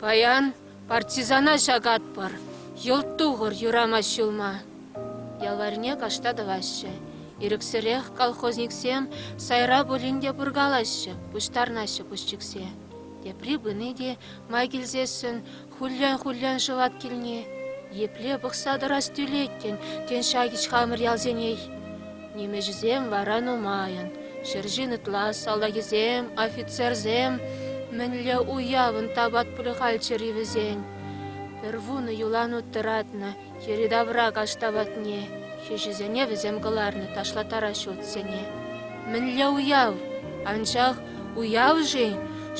Паян партизана ҫакатпӑр, йӑлт тухӑр юрамасть ҫулма. Ялварне кашта тӑваҫҫӗ. Ирӗксӗрех колхозниксем сайра пулин те пуркалаҫҫӗ, пуҫтарнаҫҫӗ пусчиксе. Тепри пыни те май килсессӗн хуллен-хуллен шӑвать килни. Епле пӑхса тӑрас тӳлет, тен, ҫак ич хамӑр ялсенех. Нимӗҫӗсем вара нумайӑн. Ҫӗр ҫын ытла салтакӗсем, офицерсем мӗнле уявӑн тапат пулӗ хальччӗр-и вӗсен? Пӗр вунӑ юлан ут тӑратнӑ йӗри-тавра каҫ тапатне, хӗҫӗсене вӗсем кӑларнӑ ташлаттараҫҫӗ утсене. Мӗнле уяв? Анчах уяв-ши?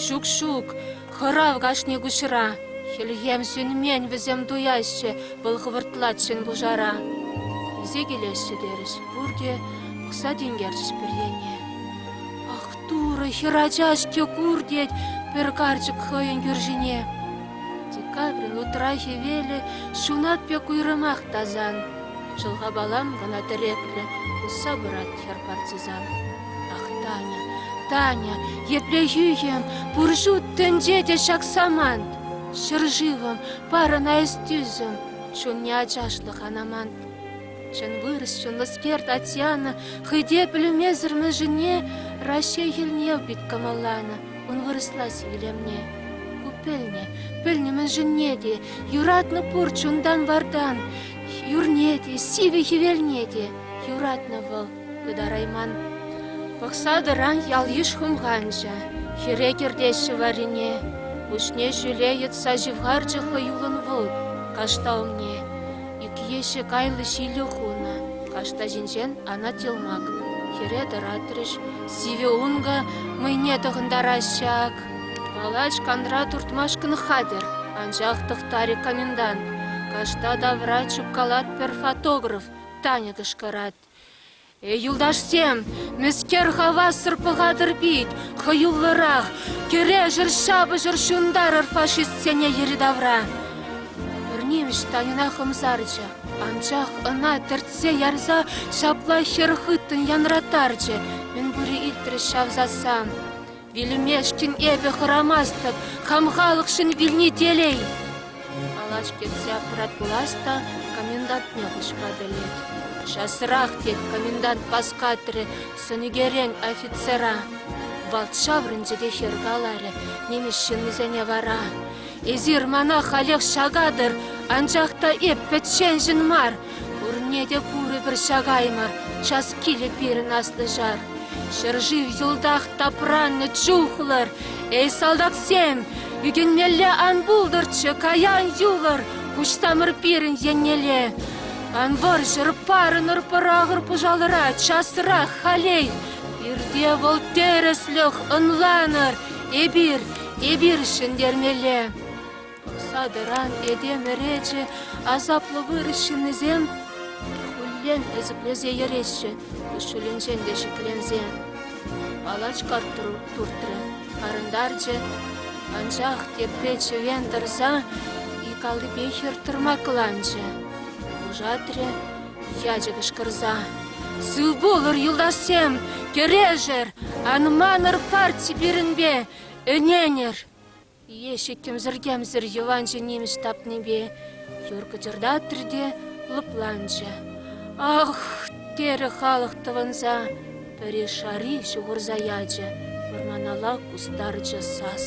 Ҫук-ҫук, Хӑрав кашни куҫра. Хӗлхем сӳнмен вӗсем туяҫҫӗ, вӑл хӑвӑртлать ҫын пушара. Килсе килеҫҫӗ терӗҫ пурте, пӑхса тинкерчӗҫ пӗррене. Ах, Турӑ, хӗрача-ҫке кур, тет пӗр карчӑк хӑйӗн кӳршине. Декабрин утра хӗвелӗ ҫунат пек уйрӑмах тасан. Шӑлхапалам кӑна тӗреклӗ, пусса пырать хӗр партизан. Ах, Таня, Таня, епле хӳхӗм, пур ҫут тӗнче те ҫак самант. Ҫӗршывӑм, парӑна эс тӳсӗм, чунне ачашлӑх ан амант. Чӑн вырӑс, чӑнлӑскер Татьяна хӑй те пӗлмесӗр мӗншӗнне Раҫҫей хӗлне пит кӑмӑлланӑ, ун вырӑслать илемне. Ку пӗлнӗ, пӗлнӗ мӗншӗнне те, юратнӑ пур чунтан-вартан, юрне те, сивӗ хӗвелне те. Юратнӑ вӑл Ытарайман. Пӑхса тӑран ял-йыш хумханчӗ. Хӗре кӗртеҫҫӗ варрине. Пуҫне ҫӳле йӑтса ҫывхарчӗ хӑюллӑн вӑл кашта умне. Ӳкеҫҫӗ кайлӑ ҫилӳ хунӑ. Кашта ҫинчен анать йӑлмак. Хӗре тӑратрӗҫ. Сивӗ ункӑ мӑйне тӑхӑнтараҫҫӗ ак. Палач канра туртмашкӑн хатӗр, анчах тӑхтарӗ комендант. Кашта тавра чупкалать пӗр фотограф, Таня кӑшкӑрать. Юлташсем, мӗскер хавассӑр пӑхатӑр пит хӑюллӑрах, кӗрешӗр, ҫапӑҫӑр, ҫунтарӑр фашистсене йӗри-тавра! Пӗр нимӗҫ Таньӑна хӑмсарчӗ, анчах ӑна тӗртсе ярса ҫапла хӗр хыттӑн янратарчӗ. Мӗн пури илтрӗҫ ҫав сассан. Вилӗмешкӗн эпӗ хӑрамастӑп, хам халӑхшӑн вилни телей. Калаҫ кӗтсе аппарат пулас та комендантне куҫма пӗлет. Часрах, тет комендант васкатрӗ сӑнӳкерен офицера. Вӑл ҫаврӑнчӗ те хӗр каларӗ нимӗҫ ҫыннисене вара. Эсир мана халех ҫакатӑр, анчах та эп пӗчченшӗн мар, Пурне те курӑпӑр ҫакаймӑр час килӗ пирӗн аслӑ ҫар. Ҫӗршыв йӑлтах тапраннӑ чухлӑр, эй салтаксем, ӳкӗнмелле ан пултӑрччӗ каян юлӑр куҫсамӑр пирӗн еннелле. Ан вӑрҫӑр, парӑнӑр пӑрахӑр пӑшалӑра часрах халей. Пирте вӑл тӗрӗслӗх ӑнланӑр, эпир, эпир ҫӗнтермелле. Садӑран этем ӗречӗ, асаплӑ вырӑс ҫыннисем хуллен ӗсӗклесе йӗреҫҫӗ, куҫҫулӗнчен те шикленсе. Палачка туртрӗ, парӑнтарчӗ, анчах тепре чӗвен тӑрса икаллипе хӗртӑрмакланчӗ. Пушатрӗ ячӗ кӑшкӑрса. «Сыв пулӑр, юлташсем! Кӗрешӗр! Ан манӑр парти пирӗнпе! Ӗненӗр!» Лешӗ кӗмсӗр-кӗмсӗр йӑванҫӑ нимӗҫ тапнипе юр кӑчӑртатрӗ те лӑпланчӗ. «Ах!» терӗ халӑх тӑвӑнса. Пӗри шари ҫухӑрса ячӗ, вӑрманалла кустарчӗ сас.